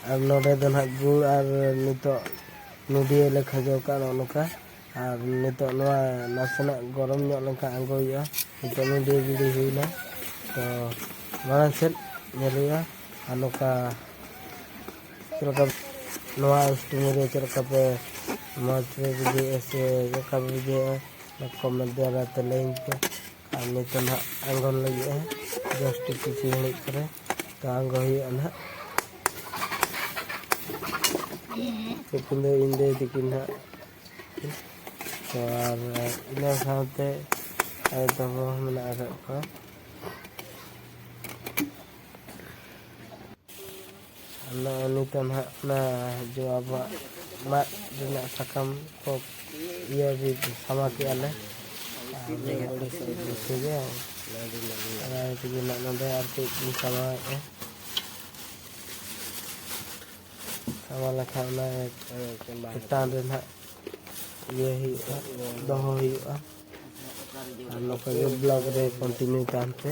ᱟᱨ ᱱᱚᱰᱮ ᱫᱚ ᱱᱟᱦᱟᱜ ᱜᱩᱲ ᱟᱨ ᱱᱤᱛᱚᱜ ᱱᱚᱰᱤᱭᱟᱹ ᱞᱮ ᱠᱷᱟᱡᱚ ᱠᱟᱜᱼᱟ ᱱᱚᱜᱼᱚ ᱱᱚᱝᱠᱟ ᱟᱨ ᱱᱤᱛᱚᱜ ᱱᱚᱣᱟ ᱱᱟᱥᱮᱱᱟᱜ ᱜᱚᱨᱚᱢ ᱧᱚᱜ ᱞᱮᱱᱠᱷᱟᱱ ᱟᱬᱜᱚ ᱦᱩᱭᱩᱜᱼᱟ ᱱᱤᱛᱚᱜ ᱱᱚᱰᱤᱭᱟᱹ ᱜᱤᱰᱤ ᱦᱩᱭᱱᱟ ᱛᱚ ᱢᱟᱲᱟᱝ ᱥᱮᱫ ᱧᱮᱞ ᱦᱩᱭᱩᱜᱼᱟ ᱟᱨ ᱱᱚᱝᱠᱟ ᱪᱮᱫ ᱞᱮᱠᱟ ᱱᱚᱣᱟ ᱥᱴᱤᱢ ᱨᱮ ᱪᱮᱫ ᱞᱮᱠᱟ ᱯᱮ ᱢᱚᱡᱽ ᱯᱮ ᱵᱩᱡᱷᱟᱹᱣᱮᱫᱼᱟ ᱥᱮ ᱪᱮᱫ ᱞᱮᱠᱟ ᱯᱮ ᱵᱩᱡᱷᱟᱹᱣᱮᱫᱼᱟ ᱠᱚᱢᱮᱱᱴ ᱫᱟᱨᱟᱭ ᱛᱮ ᱞᱟᱹᱭᱟᱹᱧ ᱯᱮ ᱟᱨ ᱱᱤᱛᱚᱜ ᱱᱟᱦᱟᱜ ᱟᱬᱜᱚᱱ ᱞᱟᱹᱜᱤᱫᱼᱟ ᱡᱟᱥᱴ ᱠᱤᱪᱷᱩ ᱜᱷᱟᱹᱲᱤᱡ ᱯᱚᱨᱮ ᱛᱚ ᱟᱬᱜᱚ ᱦᱩᱭᱩᱜᱼᱟ ᱱᱟᱦᱟᱜ ᱛᱤᱠᱤᱱ ᱫᱚ ᱤᱧ ᱫᱟᱹᱭ ᱛᱤᱠᱤᱱ ᱱᱟᱦᱟᱜ ᱛᱚ ᱟᱨ ᱤᱱᱟᱹ ᱥᱟᱶᱛᱮ ᱟᱭᱳ ᱛᱟᱠᱚ ᱦᱚᱸ ᱢᱮᱱᱟᱜ ᱟᱠᱟᱫ ᱠᱚᱣᱟ ᱱᱚᱜᱼᱚᱭ ᱱᱤᱛᱚᱜ ᱱᱟᱦᱟᱜ ᱚᱱᱟ ᱡᱚ ᱟᱵᱚᱣᱟᱜ ᱢᱟᱫ ᱨᱮᱱᱟᱜ ᱥᱟᱠᱟᱢ ᱠᱚ ᱤᱭᱟᱹ ᱥᱟᱢᱟ ᱠᱮᱜᱼᱟ ᱞᱮ ᱛᱮᱜᱮ ᱟᱨ ᱛᱮᱜᱮ ᱱᱟᱜ ᱱᱚᱰᱮ ᱟᱨ ᱠᱟᱹᱡ ᱤᱧ ᱥᱟᱢᱟᱣᱮᱜᱼᱟ ᱥᱟᱢᱟ ᱞᱮᱠᱷᱟᱱ ᱚᱱᱟ ᱪᱮᱛᱟᱱ ᱨᱮ ᱱᱟᱜ ᱤᱭᱟᱹ ᱦᱩᱭᱩᱜᱼᱟ ᱫᱚᱦᱚ ᱦᱩᱭᱩᱜᱼᱟ ᱟᱨ ᱱᱚᱝᱠᱟ ᱜᱮ ᱵᱞᱚᱜ ᱨᱮ ᱠᱚᱱᱴᱤᱱᱤᱭᱩ ᱛᱟᱦᱮᱱ ᱯᱮ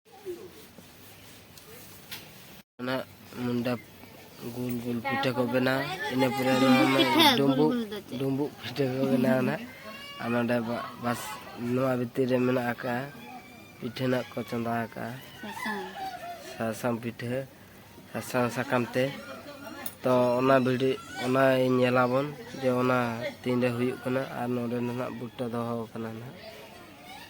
ᱚᱱᱟ ᱜᱩᱞ ᱜᱩᱞ ᱯᱤᱴᱷᱟᱹ ᱠᱚ ᱵᱮᱱᱟᱣ ᱤᱱᱟᱹ ᱯᱚᱨᱮ ᱰᱩᱢᱵᱩᱜ ᱰᱩᱢᱵᱩᱜ ᱯᱤᱴᱷᱟᱹ ᱠᱚ ᱵᱮᱱᱟᱣ ᱱᱟ ᱟᱨ ᱱᱚᱰᱮ ᱵᱟᱥ ᱱᱚᱣᱟ ᱵᱷᱤᱛᱤᱨ ᱨᱮ ᱢᱮᱱᱟᱜ ᱟᱠᱟᱫᱼᱟ ᱯᱤᱴᱷᱟᱹ ᱱᱟᱜ ᱠᱚ ᱪᱚᱸᱫᱟ ᱟᱠᱟᱫᱼᱟ ᱥᱟᱥᱟᱝ ᱯᱤᱴᱷᱟᱹ ᱥᱟᱥᱟᱝ ᱥᱟᱠᱟᱢ ᱛᱮ ᱛᱚ ᱚᱱᱟ ᱵᱷᱤᱰᱤ ᱚᱱᱟ ᱧᱮᱞᱟᱵᱚᱱ ᱡᱮ ᱚᱱᱟ ᱛᱤᱱᱨᱮ ᱦᱩᱭᱩᱜ ᱠᱟᱱᱟ ᱟᱨ ᱱᱚᱰᱮ ᱱᱟᱦᱟᱜ ᱵᱩᱴᱟᱹ ᱫᱚᱦᱚ ᱟᱠᱟᱱᱟ ᱱᱟᱦᱟᱜ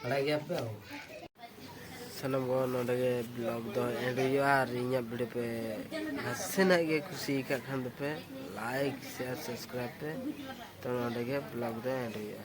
ᱵᱟᱲᱟᱭ ᱜᱮᱭᱟ ᱯᱮ ᱥᱟᱱᱟᱢ ᱠᱚ ᱱᱚᱰᱮ ᱜᱮ ᱵᱞᱚᱜ ᱫᱚ ᱮᱱᱰ ᱦᱩᱭᱩᱜᱼᱟ ᱟᱨ ᱤᱧᱟᱹᱜ ᱵᱷᱤᱰᱤᱭᱳ ᱯᱮ ᱱᱟᱥᱮᱱᱟᱜ ᱜᱮ ᱠᱩᱥᱤ ᱟᱠᱟᱫ ᱠᱷᱟᱱ ᱫᱚᱯᱮ ᱞᱟᱭᱤᱠ ᱥᱮᱭᱟᱨ ᱥᱟᱵᱥᱠᱨᱟᱭᱤᱵ ᱯᱮ ᱛᱚ ᱱᱚᱰᱮ ᱜᱮ ᱵᱞᱚᱜ ᱫᱚ ᱮᱱᱰ ᱦᱩᱭᱩᱜᱼᱟ